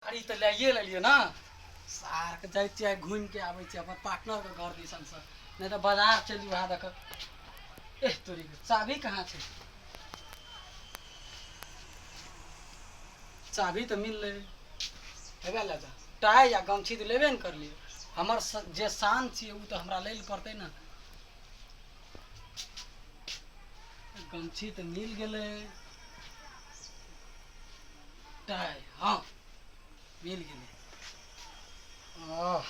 गाड़ी तऽ लैए लेलियै ने सारके जाइ छियै आइ घुमि कऽ आबै छियै अपन पार्टनरके घर दिसनसँ नहि तऽ बाजार चलि उएह दऽ कऽ एह तोरीके चाभी कहाँ छै चाभी तऽ मिललै हेबे लए जा टाइ या गमछी तऽ लेबे ने करलियै हमर स- जे शान छियै ओ तऽ हमरा लै लए पड़तै ने गमछी तऽ मिल गेलै टाय हाँ मिल गेलै आह,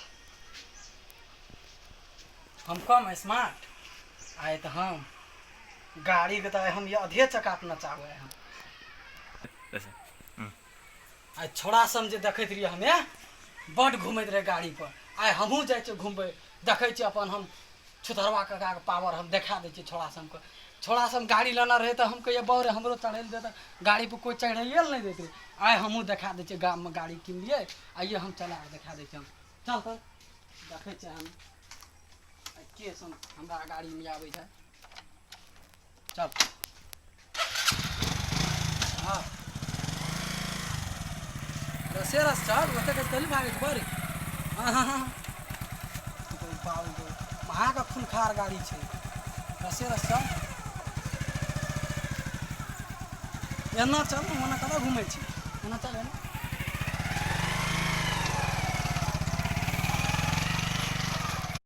हम कम स्मार्ट आए तऽ हम गाड़ी के तऽ हम ये आधे चक्का अपना चाहबै हम ऐसे आइ छोड़ा सम जे देखैत रहियै हमे बड घूमैत रहे गाड़ी पर आइ हमहूँ जाइ छियै घूमबै देखै छियै अपन हम छुतरवा काकाके पावर हम देखा दै छियै छोड़ा सबके छोड़ा सब गाड़ी लेना रहै तऽ हम कहियै बौ रे हमरो चढ़ै लए देतै गाड़ी पर कोइ चढ़ैए लए नहि दैत रहै आइ हमहूँ देखा दै छियै गाममे गाड़ी किनलियै आइए हम चला कऽ देखा दै छियै हम चल तऽ देखै छियै हम आइ के सब हमरा गाड़ीमे आबै छै चल हाँ रसे रस चल रसे रस चल भागे तो बरे हाँ हाँ हाँ तो बाल दो महा का खूनखार गाड़ी छे रसे रस चल एना चल ने ओना कतऽ घुमै छी एना चल एना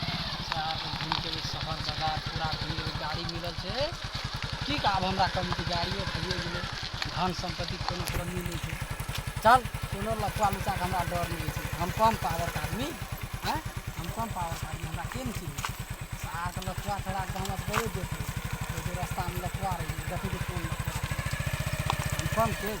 घूमिके जे शहर जगह पूरा भीड़ गाड़ी मिलल छै की का आब हमरा कमी तऽ गाड़िए भइए गेलै धन सम्पत्तिके कोनो कमी नहि छै चल कोनो लफुआ लुचाके हमरा डर नहि छै हम कम पावरके आदमी आँय हम कम पावरके आदमी हमरा के ने चिन्है छै शहरके लफुआ छोड़ा कऽ हमरा बड़े देख लै छै रस्तामे लफुआ रहै छै देखै छै कोन लफुआ हम कम तेज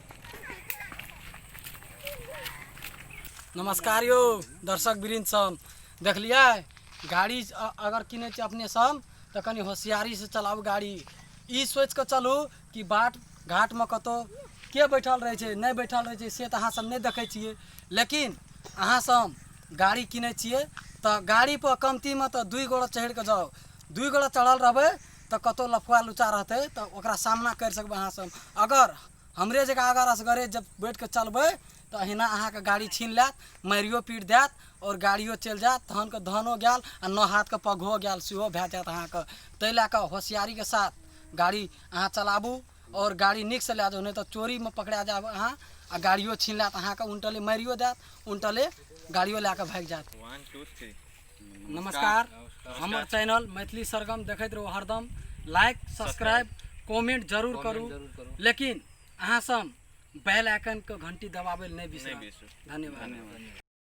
नमस्कार यौ दर्शक वृन्द सब देखलियै गाड़ी अ- अगर किनै छै अपने सब तऽ कनि होशियारीसँ चलाउ गाड़ी ई सोचि कऽ चलू कि बाट घाटमे कतहु के बैठल रहै छै नहि बैठल रहै छै से तऽ अहाँसभ नहि देखै छियै लेकिन अहाँसभ गाड़ी किनै छियै तऽ गाड़ीपर कमतीमे तऽ दुइ गोड़ा चढ़ि कऽ जाउ दुइ गोड़ा चढ़ल रहबै तऽ कतौ लफुआ लुचा रहतै तऽ ओकरा सामना करि सकबै अहाँ सब अगर हमरे जकाँ अगर असगरे जब बैठ कऽ चलबै तऽ अहिना अहाँके गाड़ी छीन लैत मारियो पीट दैत आओर गाड़ियो चलि जायत तहन कऽ धनो गेल आ नऽ हाथ कऽ पगहो गेल सेहो भए जायत अहाँके तै लए कऽ होशियारीके साथ गाड़ी अहाँ चलाबू आओर गाड़ी नीकसँ लए जाउ नहि तऽ चोरीमे पकड़ा जायब अहाँ आ गाड़ियो छीन लैत अहाँके उनटले मारियो दैत उनटले गाड़ियो लए कऽ भागि जायत नमस्कार हमर चैनल मैथिली सरगम देखैत रहू हरदम लाइक सब्सक्राइब कमेंट जरूर करू लेकिन अहाँसँ बेल आइकनके घंटी दबाबै लए नहि बिसरब धन्यवाद